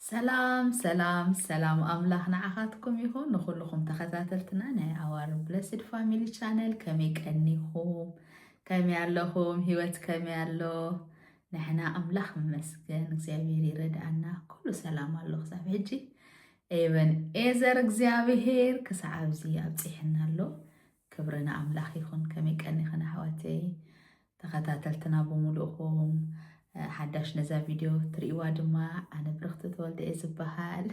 ሰላም ሰላም ሰላም ኣምላኽ ንዓኻትኩም ይኹን ንኹልኹም ተኸታተልትና ናይ ኣዋር ብለስድ ፋሚሊ ቻነል ከመይ ቀኒኹም ከመይ ኣለኹም ሂወት ከመይ ኣሎ ንሕና ኣምላኽ መስገን እግዚኣብሔር ይረድኣና ኩሉ ሰላም ኣሎ ክሳብ ሕጂ ኤበንኤዘር እግዚኣብሄር ክሳዕ ኣብዚ ኣብፂሕና ኣሎ። ክብሪ ንኣምላኽ ይኹን። ከመይ ቀኒኽን ኣሕዋተይ ተኸታተልትና ብምሉእኹም ሓዳሽ ነዛ ቪድዮ ትርእይዋ ድማ ኣነ ብርኽቲ ተወልደ እየ ዝበሃል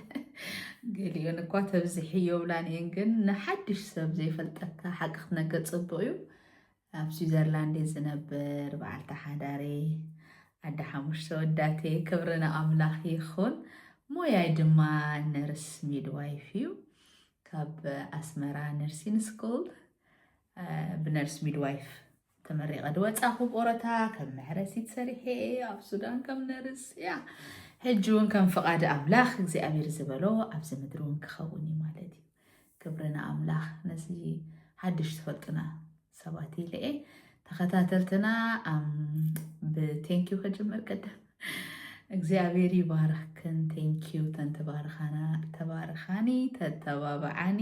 ገሊኦን እኳ ተብዝሒ የብላን እየን ግን ንሓድሽ ሰብ ዘይፈልጠካ ሓቂ ክትነገር ፅቡቅ እዩ ኣብ ስዊዘርላንድ እየ ዝነብር በዓልቲ ሓዳር እየ ኣደ ሓሙሽተ ወዳት እየ ክብሪ ንኣምላኽ ይኹን ሞያይ ድማ ነርስ ሚድዋይፍ እዩ ካብ ኣስመራ ነርሲን ስኩል ብነርስ ሚድዋይፍ ተመሪቐ ድወፃኹ ቆረታ ከም መሕረሲት ሰሪሐ ኣብ ሱዳን ከም ነርስ እያ ሕጂ እውን ከም ፍቓድ ኣምላኽ እግዚኣብሔር ዝበሎ ኣብዚ ምድሪ እውን ክኸውን እዩ ማለት እዩ ክብሪ ንኣምላኽ ነዚ ሓድሽ ዝፈልጡና ሰባት ኢለየ ተኸታተልትና ብቴንኪዩ ከጅምር ቅድም እግዚኣብሔር ይባርኽክን ቴንኪዩ ተንተባርኻና ተባርኻኒ ተተባብዓኒ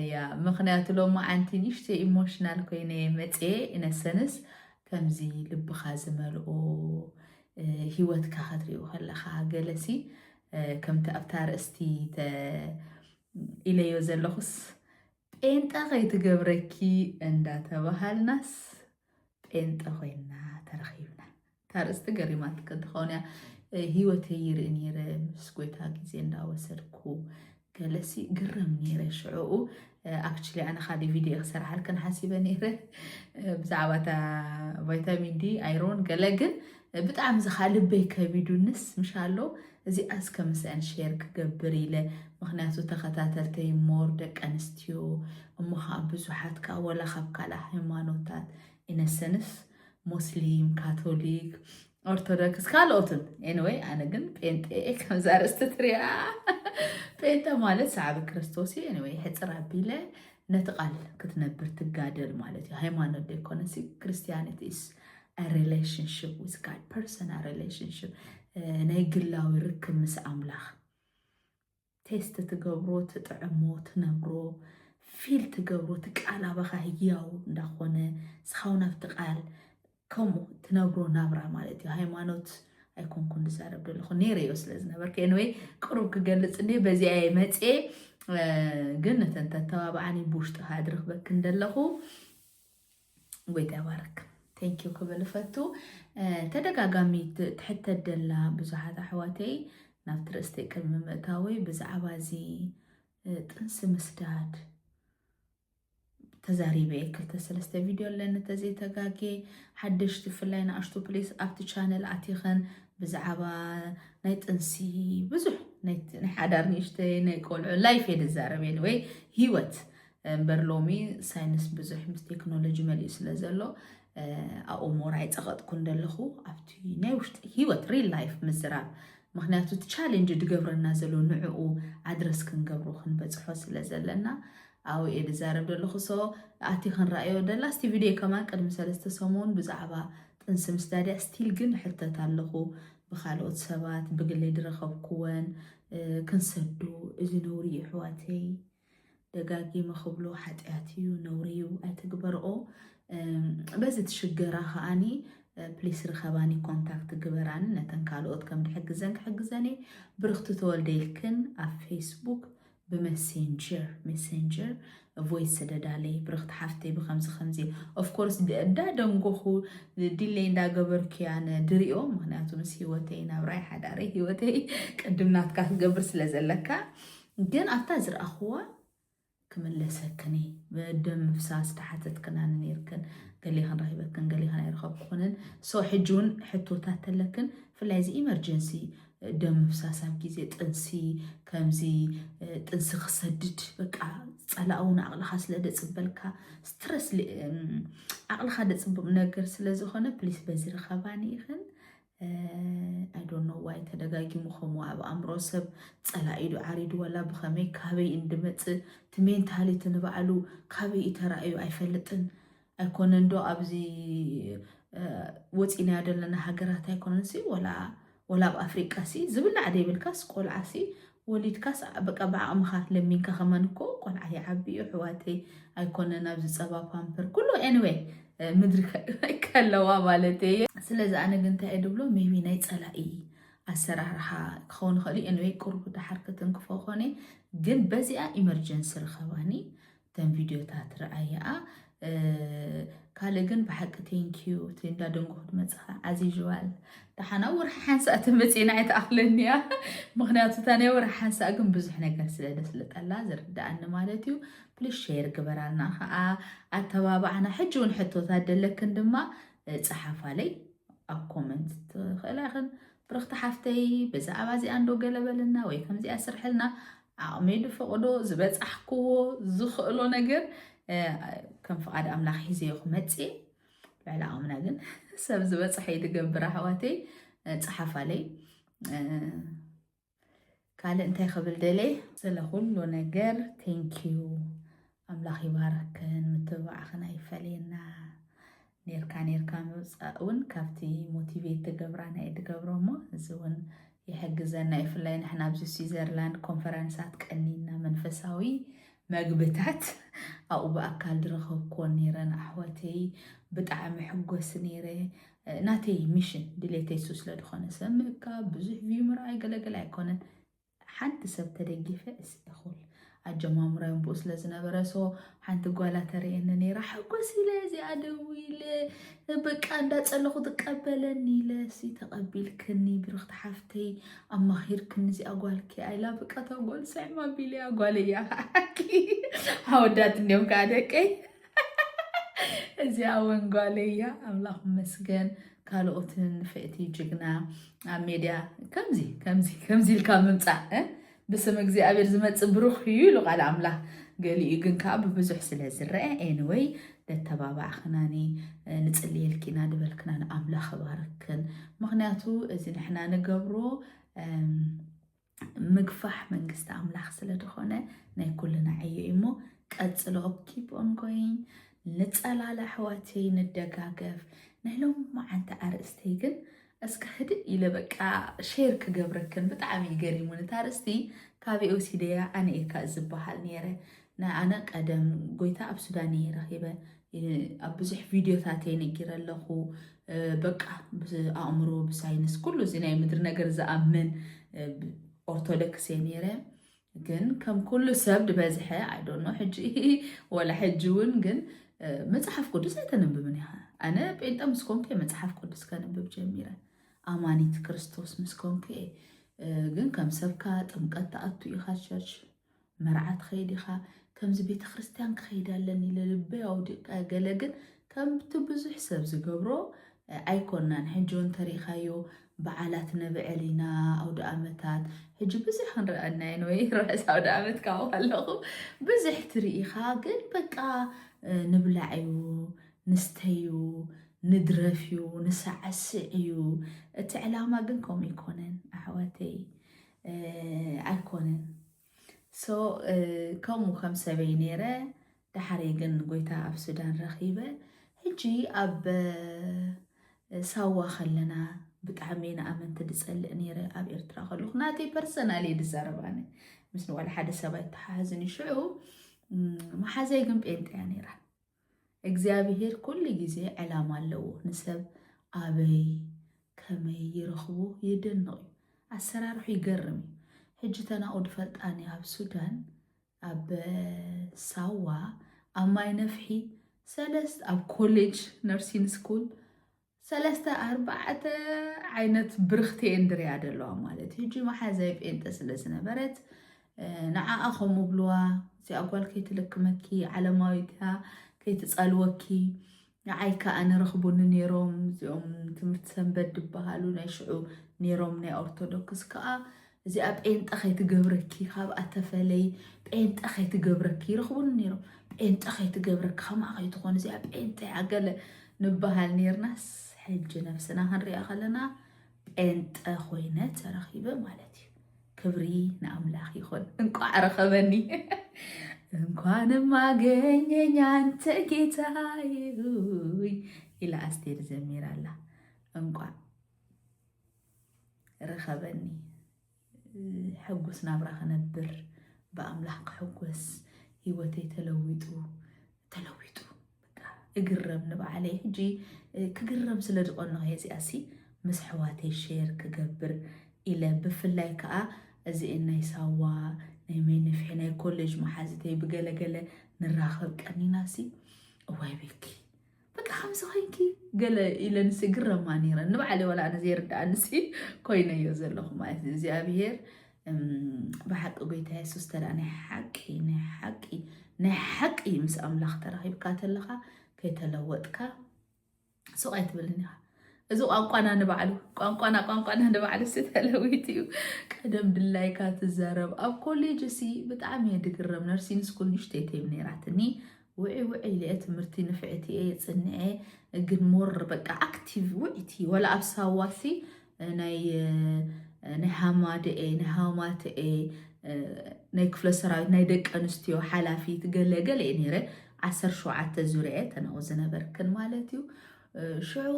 እያ ምክንያቱ ሎማ ዓንቲ ንሽተ ኢሞሽናል ኮይነ መፀ ኢነሰንስ ከምዚ ልብኻ ዝመልኦ ሂወትካ ከትሪኡ ከለኻ ገለሲ ከምቲ ኣብቲ ኣርእስቲ ኢለዮ ዘለኹስ ጴንጠ ከይትገብረኪ እንዳተባሃልናስ ጴንጠ ኮይና ተረኺብና። እታ ኣርእስቲ ገሪማትክ እንትኸውን እያ ህይወተይ ይርኢ ነይረ ምስ ጎይታ ግዜ እንዳወሰድኩ ገለሲ ግረም ነይረ ሽዑኡ ኣክቹሊ ኣነ ካደ ቪድዮ ክሰርሓልክን ሓሲበ ነይረ ብዛዕባ እታ ቫይታሚን ዲ ኣይሮን ገለ ግን ብጣዕሚ ዝኻ ልበይ ከቢዱንስ ምሻሎ እዚኣ እስከ ምስአን ሼር ክገብር ኢለ ምክንያቱ ተኸታተልተይ ሞር ደቂ ኣንስትዮ እሞ ከዓ ብዙሓት ከዓ ወላ ካብ ካልእ ሃይማኖታት ኢነሰንስ ሙስሊም ካቶሊክ ኦርቶዶክስ ካልኦትን ኤንወይ ኣነ ግን ጴንጤ ከምዛ ርእስቲ ትሪያ ጴንጠ ማለት ሰዓቢ ክርስቶስ እዩ ኤንወይ ሕፅር ኣቢለ ነቲ ቃል ክትነብር ትጋደል ማለት እዩ ሃይማኖት ደይኮነሲ ክርስቲያኒቲ ኢስ ሪላሽንሽፕ ዊዝ ጋድ ፐርሰናል ሪላሽንሽፕ ናይ ግላዊ ርክብ ምስ ኣምላኽ ቴስት ትገብሮ ትጥዕሞ ትነብሮ ፊል ትገብሮ እቲ ቃል ኣባኻ ህያው እንዳኾነ ንስኻውን ኣብቲ ቃል ከምኡ ትነብሮ ናብራ ማለት እዩ ሃይማኖት ኣይኮንኩን ዝዛረብ ዘለኹ ነይረዮ ስለ ዝነበርኩ ኤንወይ ቅሩብ ክገልፅ እንደ በዚኣ እየ መፅ ግን ነተን ተተባብዓኒ ብውሽጢ ካኣ ድረኽበክን ደለኹ ጎይታ ይባረክ ቴንኪዩ ክብል እፈቱ ተደጋጋሚ ትሕተ ደላ ብዙሓት ኣሕዋተይ ናብቲ ርእስቲ ቅድሚ ምእታወይ ብዛዕባ እዚ ጥንሲ ምስዳድ ተዛሪበ እየ ክልተ ሰለስተ ቪድዮ ኣለኒ ተዘይተጋጌ ሓደሽቲ ብፍላይ ንኣሽቱ ፕሌስ ኣብቲ ቻነል ኣቲኸን ብዛዕባ ናይ ጥንሲ ብዙሕ ናይ ሓዳር ንእሽተይ ናይ ቆልዑ ላይፍ እየ ዝዛረብ ወይ ሂወት እምበር ሎሚ ሳይንስ ብዙሕ ምስ ቴክኖሎጂ መሊኡ ስለ ዘሎ ኣኡሞር ኣይፀቐጥኩ እንደለኹ ኣብቲ ናይ ውሽጢ ሂወት ሪል ላይፍ ምዝራብ ምክንያቱ እቲ ቻሌንጅ ድገብረና ዘሎ ንዕኡ ኣድረስ ክንገብሮ ክንበፅሖ ስለ ዘለና ኣው እየ ዝዛረብ ዘለኹ ሶ ኣቲ ክንረኣዮ ደላ ስቲ ቪድዮ ከማን ቅድሚ ሰለስተ ሰሙን ብዛዕባ ጥንሲ ምስዳድያ ስቲል ግን ሕተት ኣለኹ ብካልኦት ሰባት ብግለይ ድረኸብኩወን ክንሰዱ እዚ ነውሪ ይሕዋተይ ደጋጊመ ክብሎ ሓጢኣት እዩ ነውሪ እዩ ኣይትግበርኦ በዚ ትሽገራ ከዓኒ ፕሊስ ርኸባኒ ኮንታክት ግበራኒ ነተን ካልኦት ከም ድሕግዘን ክሕግዘን እየ ብርኽቲ ተወልደ ኢልክን ኣብ ፌስቡክ ብመሴንጀር ሜሴንጀር ቮይስ ስደዳለይ ብርኽቲ ሓፍተይ ብከምዚ ከምዚ ኦፍኮርስ እዳ ደንጎኹ ዲለይ እንዳገበርኩያ ንድሪኦ ምክንያቱ ምስ ሂወተይ ናብራይ ሓዳረይ ሂወተይ ቅድም ናትካ ክገብር ስለ ዘለካ ግን ኣብታ ዝረኣኹዋ ክምለሰክን እየ ደም ምፍሳስ ተሓተትክናኒ ነይርክን ገሌኽን ረኺበክን ገሌኽን ኣይረኸብኩኽንን ሶ ሕጂ እውን ሕቶታት ተለክን ብፍላይ እዚ ኢመርጀንሲ ደም ምፍሳስ ኣብ ግዜ ጥንሲ ከምዚ ጥንሲ ክሰድድ በቃ ፀላእ እውን ኣቕልኻ ስለ ደፅበልካ ስትረስ ኣቕልኻ ደፅብም ነገር ስለ ዝኾነ ፕሊስ በዚ ርኸባኒ ኢኽን ኣይ ዶንት ኖ ዋይ ተደጋጊሙ ከምኡ ኣብ ኣእምሮ ሰብ ጸላኢ ዶ ዓሪዱ ዋላ ብኸመይ ካበይ እንድመጽእ እቲ ሜንታሊቲ ንባዕሉ ካበይ እዩ ተራእዩ ኣይፈልጥን ኣይኮነን ዶ ኣብዚ ወጺእናዮ ዘለና ሃገራት ኣይኮነንሲ ወላ ወላ ኣብ ኣፍሪቃ ሲ ዝብላዕ ዘይብልካስ ቆልዓ ሲ ወሊድካስ በቃ ብዓቅምካ ለሚንካ ከማን እኮ ቆልዓ ይዓቢ እዩ ኣሕዋተይ ኣይኮነን ኣብዚ ፀባ ፓምፐር ኩሉ ኤኒዌይ ምድሪ ከለዋ ማለት እየ ስለዚ ኣነ ግን እንታይ እየ ድብሎ ሜቢ ናይ ፀላኢ ኣሰራርሓ ክኸውን ይኽእል እዩ ኤንወይ ቅርቡ ድሓር ከተንክፎ ኮነ ግን በዚኣ ኢመርጀንሲ ረኸባኒ እተን ቪድዮታት ረኣየኣ ካልእ ግን ብሓቂ ቴንኪዩ እቲ እንዳደንጎ ክትመፅኻ ዓዚዥዋል ደሓና ወርሒ ሓንሳእ ትመፅና ኣይትኣኽለኒ እያ ምክንያቱ እታ ናይ ወርሒ ሓንሳእ ግን ብዙሕ ነገር ስለ ደስልጠላ ዝርዳኣኒ ማለት እዩ ፕሊስ ሸር ግበራልና ከዓ ኣተባባዕና ሕጂ እውን ሕቶታት ደለክን ድማ ፀሓፋለይ ኣብ ኮመንት ትኽእላ ይኽን ብርኽቲ ሓፍተይ ብዛዕባ እዚኣ እንዶ ገለ በልና ወይ ከምዚኣ ስርሕልና ዓቕመይ ዝፈቕዶ ዝበፃሕክዎ ዝኽእሎ ነገር ከም ፍቓድ ኣምላኽ ሒዘዮ ክመፅእ ልዕሊ ዓቕምና ግን ሰብ ዝበፅሐ ይትገብር ኣሕዋተይ ፀሓፋለይ ካልእ እንታይ ክብል ደልየ ስለ ኩሉ ነገር ቴንኪዩ ኣምላኽ ይባርክክን ምትብባዕኽን ኣይፈለየና ኔርካ ኔርካ ምውፃእ እውን ካብቲ ሞቲቬት ትገብራ ናይ ድገብሮ እሞ እዚ እውን ይሕግዘና ይፍላይ ንሕና ኣብዚ ስዊዘርላንድ ኮንፈረንሳት ቀኒና መንፈሳዊ መግብታት ኣብኡ ብኣካል ድረኸብክዎን ነይረን ኣሕዋተይ ብጣዕሚ ሕጎስ ነይረ ናተይ ሚሽን ድሌተይ ሱ ስለ ድኾነ ሰብ ምእካብ ብዙሕ ቪዩ ምርኣይ ገለገለ ኣይኮነን ሓንቲ ሰብ ተደጊፈ እስተኹል ኣጀማምራዮ ብኡ ስለ ዝነበረ ሶ ሓንቲ ጓላ ተርእየኒ ነይራ ሓጎስ ኢለ እዚኣ ደው ኢለ በቃ እንዳፀለኹ ትቀበለኒ ኢለ ሲ ተቐቢልክኒ ብርኽቲ ሓፍተይ ኣማኺርክኒ እዚኣ ጓልኪ ኣይላ ብቃ እታ ጓል ስዕም ኣቢለያ ጓለይ እያ ከዓኪ ኣወዳት እንዲዮም ከዓ ደቀይ እዚኣ እውን ጓለይ እያ ኣምላኽ መስገን ካልኦትን ፍእቲ ጅግና ኣብ ሜድያ ከምዚ ከምዚ ከምዚ ኢልካ ምምፃእ ብስም እግዚኣብሔር ዝመፅእ ብሩኽ እዩ ኢሉ ቃል ኣምላኽ ገሊኡ ግን ከዓ ብብዙሕ ስለ ዝረአ ኤንወይ ለተባባዕክናኒ ንጽልየልኪና ድበልክና ንኣምላኽ ባረክን ምክንያቱ እዚ ንሕና ንገብሮ ምግፋሕ መንግስቲ ኣምላኽ ስለ ዝኾነ ናይ ኩልና ዕዮ እዩ እሞ ቀጽሎ ኪፕ ኦን ጎይን ንጸላል ኣሕዋተይ ንደጋገፍ ናይ ሎም መዓንቲ ኣርእስተይ ግን እስከ ህድእ ኢለ በቃ ሼር ክገብረክን ብጣዕሚ እዩ ገሪሙን እታ ርእስቲ ካበይ ወሲደያ ኣነ እየካ ዝበሃል ነይረ ኣነ ቀደም ጎይታ ኣብ ሱዳን እየ ረኺበ ኣብ ብዙሕ ቪድዮታት እየ ነጊረ ኣለኹ በቃ ብኣእምሮ ብሳይንስ ኩሉ እዚ ናይ ምድሪ ነገር ዝኣምን ኦርቶዶክስ እየ ነይረ ግን ከም ኩሉ ሰብ ድበዝሐ ኣይዶኖ ሕጂ ወላ ሕጂ እውን ግን መፅሓፍ ቅዱስ ኣይተንብብን ኢኻ ኣነ ጴንጠ ምስ ኮንኩ እየ መፅሓፍ ቅዱስ ከንብብ ጀሚረ ኣማኒት ክርስቶስ ምስ ኮንኩ እየ ግን ከም ሰብካ ጥምቀት ተኣቱ ኢኻ ቸርች መርዓ ትኸይድ ኢኻ ከምዚ ቤተ ክርስቲያን ክኸይድ ኣለኒ ልልበ ኣውዲቀ ገለ ግን ከምቲ ብዙሕ ሰብ ዝገብሮ ኣይኮናን ሕጆን ተሪእኻዮ በዓላት ነብዕል ኢና ኣውደኣመታት ሕጂ ብዙሕ ክንርኣ እና ኢና ወይ ርሑስ ኣውደኣመት ካብ ከለኹ ብዙሕ ትርኢ ኢኻ ግን በቃ ንብላዕ እዩ ንስተይ እዩ ንድረፍ እዩ ንሳዕስዕ እዩ እቲ ዕላማ ግን ከምኡ ኣይኮነን ኣሕዋተይ ኣይኮነን ሶ ከምኡ ከም ሰበይ ነይረ ዳሓረይ ግን ጎይታ ኣብ ሱዳን ረኺበ ሕጂ ኣብ ሳዋ ከለና ብጣዕሚ ንኣመንቲ ድፀልእ ነይረ ኣብ ኤርትራ ከለኹ ናተይ ፐርሰናል እየ ድዛረብ ኣነ ምስ ንዋላ ሓደ ሰብ ኣይተሓሓዝን እዩ ሽዑ መሓዛይ ግን ጴንጤያ ነይራ እግዚኣብሄር ኩሉ ግዜ ዕላማ ኣለዎ ንሰብ ኣበይ ከመይ ይረኽቦ የደንቕ እዩ ኣሰራርሑ ይገርም እዩ ሕጂ ተናኡ ድፈልጣኒ ኣብ ሱዳን ኣብ ሳዋ ኣብ ማይ ነፍሒ ሰለስት ኣብ ኮሌጅ ነርሲን ስኩል ሰለስተ ኣርባዕተ ዓይነት ብርክቲ እንድርያ ደለዋ ማለት እዩ ሕጂ መሓዛይ ጴንጠ ስለ ዝነበረት ንዓኣ ከምኡ ብልዋ እዚኣ ጓል ከይትልክመኪ ዓለማዊታ ከይትፀልወኪ ንዓይ ከዓ ንረኽቡኒ ነይሮም እዚኦም ትምህርቲ ሰንበት ዝበሃሉ ናይ ሽዑ ነይሮም ናይ ኦርቶዶክስ ከዓ እዚኣ ጴንጠ ከይትገብረኪ ካብኣ ተፈለይ ጴንጠ ከይትገብረኪ ይረኽቡኒ ነይሮም ጴንጠ ከይትገብረኪ ከማኣ ከይትኾን እዚኣ ጴንጠ እያ ገለ ንበሃል ነርናስ ሕጂ ነብስና ክንሪኣ ከለና ጴንጠ ኮይነ ተረኺበ ማለት እዩ ክብሪ ንኣምላኽ ይኹን እንቋዕ ረኸበኒ እንኳንም አገኘኝ አንተ ጌታዬ ይላ አስቴር ዘሚራላ እንኳን ርኸበኒ ሕጉስ ናብራ ክነብር ብኣምላኽ ክሕጎስ ሂወተይ ተለዊጡ ተለዊጡ እግረም ንባዕለይ ሕጂ ክግረም ስለ ዝቐንኦ እየ እዚኣ ሲ ምስ ኣሕዋተይ ሼር ክገብር ኢለ ብፍላይ ከዓ እዚኤን ናይ ሳዋ ናይ መይንፍሒ ናይ ኮሌጅ መሓዝተይ ብገለገለ ንራኸብ ቀኒና ሲ እዋይ ቤኪ በቃ ከምዚ ኮይንኪ ገለ ኢለንሲ ግረማ ነይረ ንባዕለይ ዋላ ኣነ ዘይርድኣንሲ ኮይነዮ ዘለኹ ማለት እዩ እግዚኣብሄር ብሓቂ ጎይታ የሱስ ተላ ናይ ሓቂ ናይ ሓቂ ናይ ሓቂ ምስ ኣምላኽ ተራኺብካ ተለኻ ከይተለወጥካ ሱቕ ኣይትብልን ኢኻ እዚ ቋንቋና ንባዕሉ ቋንቋና ቋንቋና ንባዕሉ ሲ ተለዊት እዩ ቀደም ድላይካ ትዛረብ ኣብ ኮሌጅ ሲ ብጣዕሚ እየ ድግረም ነርሲን ስኩል ንሽተይተይም ነይራትኒ ውዕይ ውዕይ ኢለ እየ ትምህርቲ ንፍዕቲ እየ ፅንዐ ግን ሞር በቃ ኣክቲቭ ውዕይቲ ወላ ኣብ ሳዋሲ ናይ ናይ ሃማደኤ ናይ ሃማተኤ ናይ ክፍለ ሰራዊት ናይ ደቂ ኣንስትዮ ሓላፊት ገለ ገለ እየ ነይረ ዓሰርተ ሸውዓተ ዙርያ ተናው ዝነበርክን ማለት እዩ ሽዑ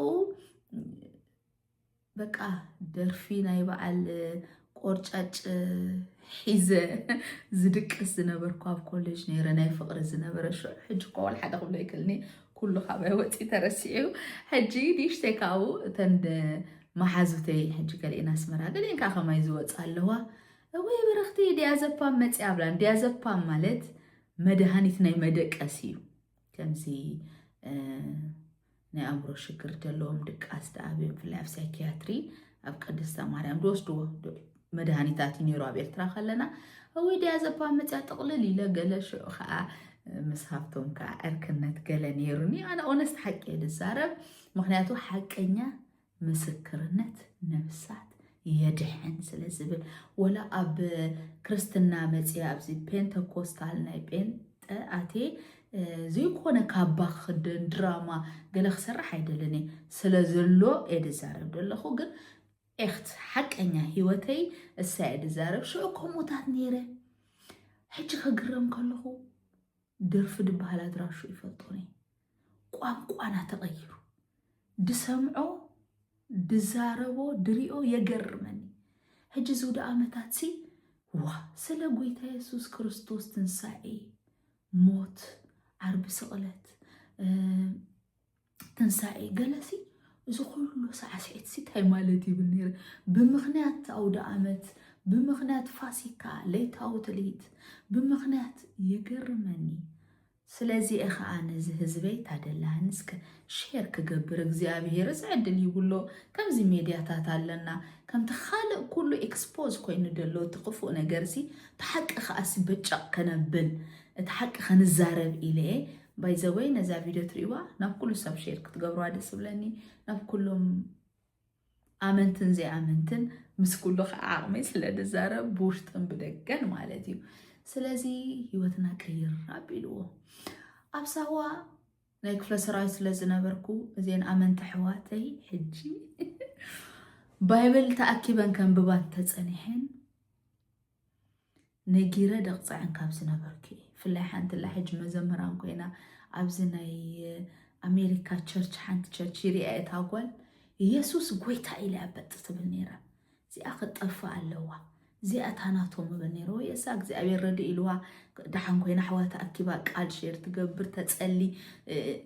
በቃ ደርፊ ናይ በዓል ቆርጫጭ ሒዘ ዝድቅስ ዝነበርኩ ኣብ ኮሌጅ ነይረ ናይ ፍቕሪ ዝነበረ ሽዑ ሕጂ እኮ ዋላ ሓደ ክብሎ ይክልኒ ኩሉ ካባይ ወፂ ተረሲዑ ሕጂ ንእሽተይ ካብኡ እተን መሓዙተይ ሕጂ ገሊኤን ኣስመራ ገሊኤን ከዓ ከማይ ዝወፃ ኣለዋ ወይ በረኽቲ ዲያዘፓም መፅያ ብላን ዲያዘፓም ማለት መድሃኒት ናይ መደቀስ እዩ ከምዚ ናይ ኣእምሮ ሽግር ዘለዎም ድቃስ ደኣ ብፍላይ ኣብ ሳይኪያትሪ ኣብ ቅድስተ ማርያም ዝወስድዎ መድሃኒታት እዩ ነይሩ ኣብ ኤርትራ ከለና እውይ ድያ ዘባ መፅያ ጥቕልል ኢለ ገለ ሽዑ ከዓ ምስ ሃብቶም ከዓ ዕርክነት ገለ ነይሩኒ ኣነ ኦነስት ሓቂ እየ ዝዛረብ ምክንያቱ ሓቀኛ ምስክርነት ነብሳት የድሕን ስለ ዝብል ወላ ኣብ ክርስትና መፅ ኣብዚ ፔንተኮስታል ናይ ጴንጠ ኣቴ ዘይኮነ ካባ ክኽደን ድራማ ገለ ክሰርሕ ኣይደልን እየ ስለ ዘሎ እየ ድዛረብ ደለኹ ግን ኤኽት ሓቀኛ ሂወተይ እሳ እየ ድዛረብ ሽዑ ከምኡታት ነይረ ሕጂ ከግረም ከለኹ ደርፊ ድበሃል ኣድራሹ ይፈልጦ ነይ ቋንቋና ተቐይሩ ድሰምዖ ድዛረቦ ድሪኦ የገርመኒ ሕጂ ዝውደ ዓመታት ሲ ዋ ስለ ጎይታ የሱስ ክርስቶስ ትንሳኤ ሞት ዓርቢ ስቕለት ትንሳኤ ገለሲ እዚ ኩሉ ሳዕስዒትሲ እንታይ ማለት ይብል ነይረ ብምኽንያት ኣውደ ኣመት ብምኽንያት ፋሲካ ለይታዊ ትልሂት ብምኽንያት የገርመኒ ስለዚ እየ ከዓ ነዚ ህዝበይ ታደላህን እስከ ሼር ክገብር እግዚኣብሄር ዝዕድል ይብሎ ከምዚ ሜድያታት ኣለና ከምቲ ካልእ ኩሉ ኤክስፖዝ ኮይኑ ደሎ እቲ ክፉእ ነገርሲ እቲ ሓቂ ከዓሲ በጨቕ ከነብል እቲ ሓቂ ክንዛረብ ኢለ እየ ባይ ዘ ወይ ነዛ ቪድዮ ትሪእዋ ናብ ኩሉ ሰብ ሼር ክትገብርዋ ደስ ዝብለኒ ናብ ኩሎም ኣመንትን ዘይኣመንትን ምስ ኩሉ ከዓ ዓቕመይ ስለ ድዛረብ ብውሽጥን ብደገን ማለት እዩ ስለዚ ሂወትና ቀይር ኣቢልዎ ኣብ ሳዋ ናይ ክፍለ ሰራዊት ስለ ዝነበርኩ እዘን ኣመንቲ ሕዋተይ ሕጂ ባይብል ተኣኪበን ከንብባ ተፀኒሐን ነጊረ ደቕጽዐን ካብ ዝነበርኩ እየ ፍላይ ሓንትላ ሕጂ መዘምራን ኮይና ኣብዚ ናይ ኣሜሪካ ቸርች ሓንቲ ቸርች ይርያ እታ ጓል ኢየሱስ ጎይታ ኢላ በጥ ትብል ነይራ እዚኣ ክጠፍእ ኣለዋ እዚኣ እታ ናቶም እብል ነይረ ወይ እሳ እግዚኣብሔር ረድ ኢልዋ ደሓን ኮይና ኣሕዋ ተኣኪባ ቃል ሼር ትገብር ተጸሊ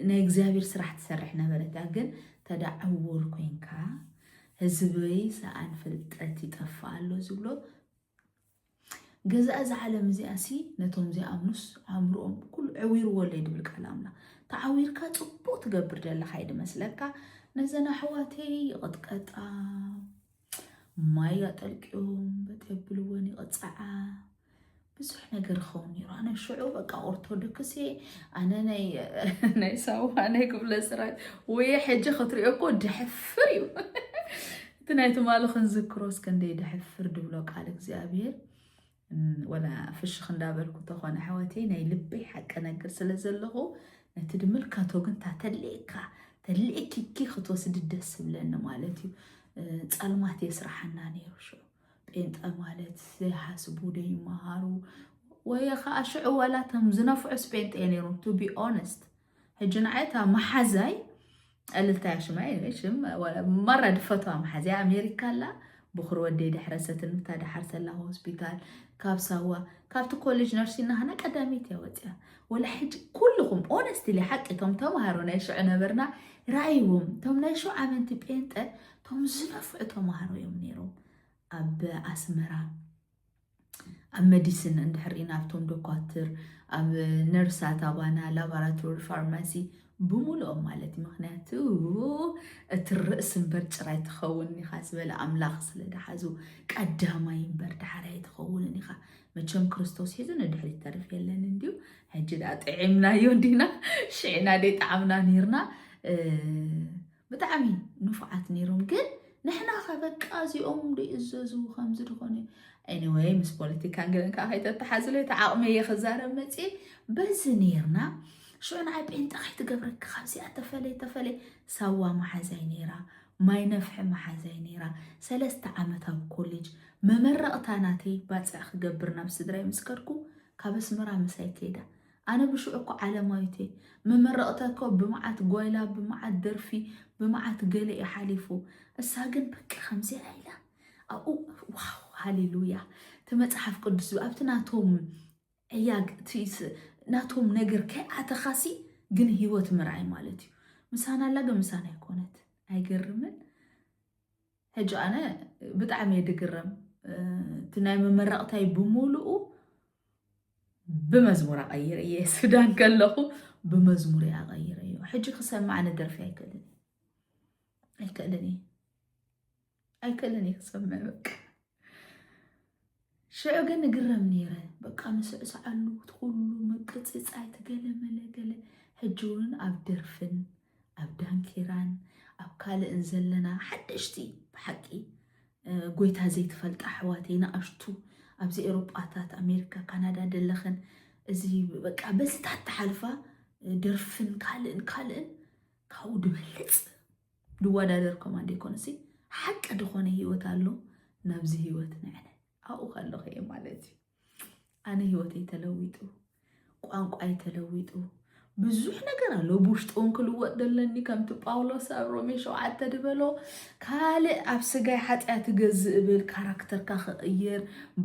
ናይ እግዚኣብሔር ስራሕ ትሰርሕ ነበረት እያ ግን ተዳ ዕውር ኮንካ ህዝበይ ሰኣን ፍልጠት ይጠፍእ ኣሎ ዝብሎ ገዛ እዛ ዓለም እዚኣ ሲ ነቶም ዘይኣምኑስ ኣእምሮኦም ኩሉ ዕዊርዎ ኣለይ ድብል ቃል ኣምላኽ ተዓዊርካ ፅቡቅ ትገብር ዘለካ እዩ ድመስለካ ነዘን ኣሕዋተይ ይቕጥቀጣ ማይ ኣጠልቅዮም በጥ የብልወን ይቕፅዓ ብዙሕ ነገር ይኸውን ነይሩ ኣነ ሽዑ በቃ ኦርቶዶክስ እየ ኣነ ናይ ናይ ሳዋ ናይ ክፍለ ስራት ወይ ሕጂ ክትሪኦ እኮ ድሕፍር እዩ እቲ ናይ ትማሊ ክንዝክሮስ ክንደይ ድሕፍር ድብሎ ቃል እግዚኣብሔር ወላ ፍሽኽ እንዳበልኩ ተኾነ ኣሕዋተይ ናይ ልበይ ሓቂ ነገር ስለ ዘለኹ ነቲ ድምልከቶ ግን እታ ተልእካ ተልእኪኪ ክትወስዲ ደስ ዝብለኒ ማለት እዩ ጸልማት የስራሓና ነይሩ ሽዑ ጴንጠ ማለት ዘይሓስቡ ዘይመሃሩ ወይ ከዓ ሽዑ ዋላ እቶም ዝነፍዑስ ጴንጠ እየ ነይሮም ቱ ቢ ኦነስት ሕጂ ንዓይ እታ መሓዛይ ዕልልታያ ሽማይ ሽም መራ ድፈትዋ መሓዝያ ኣሜሪካ ኣላ ብኩር ወደይ ድሕረሰትን ምታ ድሓርሰላ ሆስፒታል ካብ ሳዋ ካብቲ ኮሌጅ ነርሲ ናሃና ቀዳሚት እያ ወፅያ ወላ ሕጂ ኩልኹም ኦነስትሊ ሓቂ እቶም ተምሃሮ ናይ ሽዑ ነበርና ራእይዎም እቶም ናይ ሽዑ ኣመንቲ ጴንጠ እቶም ዝነፍዑ ተምሃሮ እዮም ነይሮም ኣብ ኣስመራ ኣብ መዲስን እንድሕር ኢና ኣብቶም ዶኳትር ኣብ ነርሳት ኣባና ላቦራቶሪ ፋርማሲ ብምሉኦም ማለት እዩ ምክንያቱ እቲ ርእሲ እምበር ጭራይ ትኸውን ኢኻ ዝበለ ኣምላኽ ስለ ድሓዙ ቀዳማይ እምበር ዳሕራይ ትኸውንን ኢኻ መቸም ክርስቶስ ሒዙ ንድሕሪት ተርፍ የለን እንዲዩ ሕጂ ዳ ጥዒምናዮ እንዲና ሽዕና ደይ ጣዕምና ነርና ብጣዕሚ ንፉዓት ነይሮም ግን ንሕና ከ በቃ እዚኦም ዶ ይእዘዙ ከምዚ ድኾነ ኤኒወይ ምስ ፖለቲካን ገለን ከዓ ከይተተሓዝለ እቲ ዓቕመ እየ ክዛረብ መፅእ በዚ ነይርና ሽዑ ንዓይ ጴንጠ ከይትገብረኪ ካብዚኣ ተፈለይ ተፈለይ ሳዋ መሓዛይ ነይራ ማይ ነፍሒ መሓዛይ ነይራ ሰለስተ ዓመት ኣብ ኮሌጅ መመረቕታ ናተይ ባፅዕ ክገብር ናብ ስድራይ ምስ ከድኩ ካብ ኣስመራ ምሳይ ከይዳ ኣነ ብሽዑ እኮ ዓለማዊት እየ ምምርቕተ እኮ ብመዓት ጓይላ ብመዓት ደርፊ ብመዓት ገለ እዩ ሓሊፉ እሳ ግን በቃ ከምዚኣ ኢላ ኣብኡ ዋው ሃሌሉያ እቲ መፅሓፍ ቅዱስ ኣብቲ ናቶም ዕያግ ናቶም ነገር ከይኣተኻሲ ግን ህይወት ምርኣይ ማለት እዩ ምሳና ኣላ ግን ምሳና ኣይኮነት ኣይገርምን ሕጂ ኣነ ብጣዕሚ እየ ድግረም እቲ ናይ መመረቕታይ ብምሉኡ ብመዝሙር ኣቐይረ እየ ሱዳን ከለኹ ብመዝሙር እየ ኣቐይረ እዮ ሕጂ ክሰማዕ ንደርፊ ኣይክእልን ኣይክእልን እየ ኣይክእልን እየ ክሰምዕ በቃ ሽዑ ግን እግረም ነይረ በቃ ንስዕስዓሉ እቲ ኩሉ ምንቅጽጻይ ትገለመለ ገለ ሕጂ እውን ኣብ ደርፍን ኣብ ዳንኬራን ኣብ ካልእን ዘለና ሓደሽቲ ብሓቂ ጎይታ ዘይትፈልጣ ኣሕዋተይ ንኣሽቱ ኣብዚ ኤሮጳታት ኣሜሪካ ካናዳ ደለኽን እዚ በቃ በዚታት ተሓልፋ ደርፍን ካልእን ካልእን ካብኡ ድበልፅ ድወዳደር ከማን ደይኮነሲ ሓቂ ድኾነ ህይወት ኣሎ ናብዚ ህይወት ንዕነ ኣብኡ ከለኹ እየ ማለት እዩ ኣነ ህይወተይ ተለዊጡ ቋንቋይ ተለዊጡ ብዙሕ ነገር ኣሎ ብውሽጢ እውን ክልወጥ ዘለኒ ከምቲ ጳውሎስ ኣብ ሮሜ ሸውዓተ ድበሎ ካልእ ኣብ ስጋይ ሓጢኣት እገዝእ እብል ካራክተርካ ክቕይር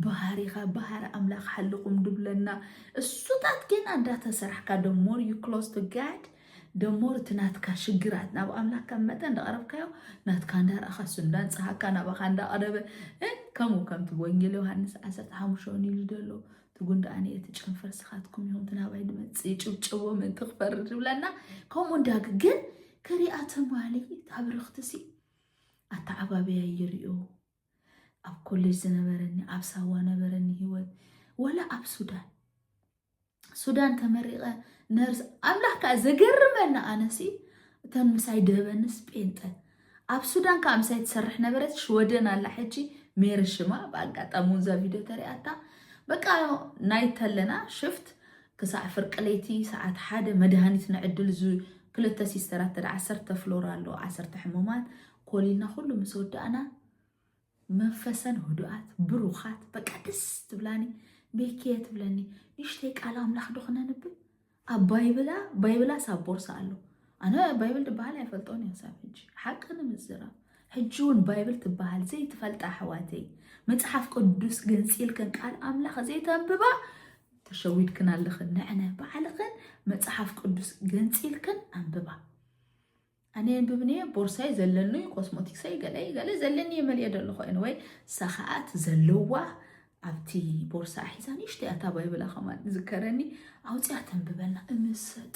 ባህሪኻ ባህሪ ኣምላኽ ሓልኹም ድብለና እሱታት ገና እንዳተሰራሕካ ደ ሞር ዩ ክሎስ ቱ ጋድ ደሞ እቲ ናትካ ሽግራት ናብ ኣምላክ ከም መጠን እንዳቐረብካዮ ናትካ እንዳረኣኻ እሱ እንዳንጽሃካ ናባኻ እንዳቐረበ ከምኡ ከምቲ ወንጌል ዮሃንስ ዓሰርተ ሓሙሽተ ውን ኢሉ ደሎ ትጉን ደኣ እቲ ጨንፈር ስኻትኩም ኢኹም እቲ ናባይ ድመጽእ ይጭብጨቦ ምእንቲ ክፈርድ ዝብለና ከምኡ እንዳግ ግን ክሪኣ ተማሊ ታብርኽትሲ ኣተዓባብያ ይሪኦ ኣብ ኮሌጅ ዝነበረኒ ኣብ ሳዋ ነበረኒ ሂወት ወላ ኣብ ሱዳን ሱዳን ተመሪቐ ነርስ ኣምላኽ ከዓ ዘገርመና ኣነሲ እተን ምሳይ ደበንስ ጴንጠ ኣብ ሱዳን ከዓ ምሳይ ትሰርሕ ነበረት ሽወደን ኣላ ሕጂ ሜሪ ሽማ ብኣጋጣሚ እውን እዛ ቪድዮ ተሪኣታ በቃ ናይት ኣለና ሽፍት ክሳዕ ፍርቂ ለይቲ ሰዓት ሓደ መድሃኒት ንዕድል ክልተ ሲስተራት ተደ ዓሰርተ ፍሎር ኣሎ ዓሰርተ ሕሙማት ኮሊልና ኩሉ ምስ ወዳእና መንፈሰን ህዱኣት ብሩኻት በቃ ደስ ትብላኒ ቤኪየ ትብለኒ ንሽተይ ቃል ኣምላኽ ዶ ክነንብብ ኣብ ባይብላ ባይብላስ ኣብ ቦርሳ ኣሎ ኣነ ባይብል ትበሃል ኣይፈልጦን እየ ሳብ ሕጂ ሓቂ ንምዝራብ ሕጂ እውን ባይብል ትበሃል ዘይትፈልጣ ኣሕዋተይ መፅሓፍ ቅዱስ ገንፂልክን ቃል ኣምላኽ ዘይተንብባ ተሸዊድክን ኣለኽን ንዕነ ባዕልኽን መፅሓፍ ቅዱስ ገንፂልክን ኣንብባ ኣነ የንብብንየ ቦርሳይ ዘለኑይ ኮስሞቲክሰይ ገለይ ገለ ዘለኒየ መልየ ደለኹ ኤንወይ እሳ ከዓ እቲ ዘለዋ ኣብቲ ቦርሳ ሒዛ ንእሽተይ ኣታ ባይብላ ከማን ዝከረኒ ኣውፅያ ተንብበልና እምሰጥ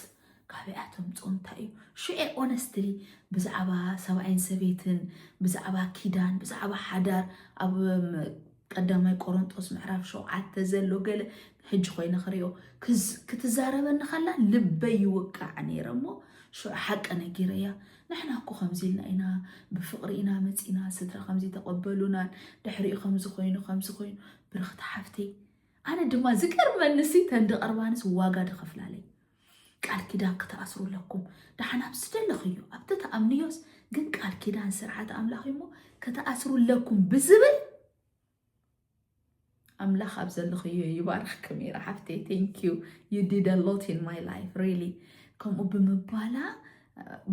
ካበይኣ ተምፅኦ እንታይ እዩ ሽዑ ኦነስትሊ ብዛዕባ ሰብኣይን ሰበይትን ብዛዕባ ኪዳን ብዛዕባ ሓዳር ኣብ ቀዳማይ ቆሮንጦስ ምዕራፍ ሸውዓተ ዘሎ ገለ ሕጂ ኮይነ ክሪኦ ክትዛረበኒ ከላ ልበይ ይውቃዕ ነይረ እሞ ሽዑ ሓቂ ነጊረያ ንሕና እኮ ከምዚ ኢልና ኢና ብፍቕሪ ኢና መፂና ስድራ ከምዚ ተቐበሉናን ድሕሪኡ ከምዚ ኮይኑ ከምዚ ኮይኑ ብርኽቲ ሓፍተይ ኣነ ድማ ዝገርመንሲ ተንዲ ቀርባንስ ዋጋ ድኸፍላለይ ቃል ኪዳን ክትኣስሩ ኣለኩም ደሓን ኣብ ዝደለኽዮ ኣብቲ ተኣምንዮስ ግን ቃል ኪዳን ስርዓት ኣምላኽ እዩሞ ክትኣስሩ ኣለኩም ብዝብል ኣምላኽ ኣብ ዘለኽዮ ይባርኽ ከሚራ ሓፍተይ ቴንኪዩ ዩ ዲድ ሎት ኢን ማይ ላይፍ ሪሊ ከምኡ ብምባላ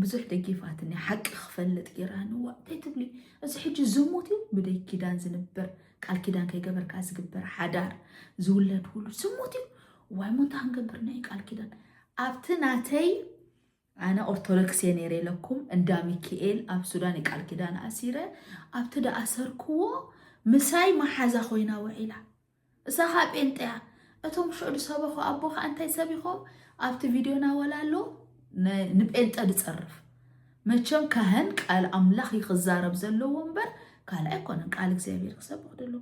ብዙሕ ደጊፋትኒ ሓቂ ክፈልጥ ጌራንዋ እንታይ ትብሊ እዚ ሕጂ ዝሙት እዩ ብደይ ኪዳን ዝንበር ቃል ኪዳን ከይገበርካ ዝግበር ሓዳር ዝውለድ ሁሉ ዝሙት እዩ ዋይ ሞታ ክንገብር ናይ ቃል ኪዳን ኣብቲ ናተይ ኣነ ኦርቶዶክስ እየ ነይረ ኢለኩም እንዳ ሚካኤል ኣብ ሱዳን የቃል ኪዳን ኣሲረ ኣብቲ ዳኣሰርክዎ ምሳይ መሓዛ ኮይና ውዒላ እሳ ከዓ ጴንጠያ እቶም ሽዑ ዝሰበኹ ኣቦ ከዓ እንታይ ሰቢኾም ኣብቲ ቪድዮና ወላ ኣሎ ንጴንጠ ዝፀርፍ መቸም ካህን ቃል ኣምላኽ እዩ ክዛረብ ዘለዎ እምበር ካልእ ኣይኮነን ቃል እግዚኣብሔር ክሰብኽ ደሎ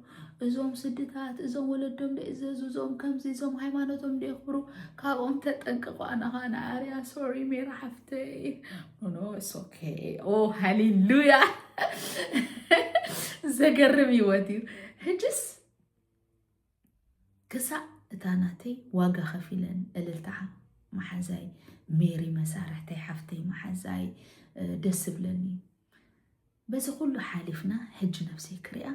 እዞም ስድታት እዞም ወለዶም ደእዘዙ እዞም ከምዚ እዞም ሃይማኖቶም ደየኽብሩ ካብኦም ተጠንቅቑ ኣናኻ ንኣርያ ሶሪ ሜራ ሓፍተይ ኖኖ ሶኬ ኦ ሃሌሉያ ዘገርም ህይወት እዩ ህጅስ ክሳዕ እታ ናተይ ዋጋ ከፊለ እልልታ ማሓዛይ ሜሪ መሳርሕተይ ሓፍተይ ማሓዛይ ደስ ዝብለኒ በዚ ኩሉ ሓሊፍና ሕጂ ነብሰይ ክሪኣ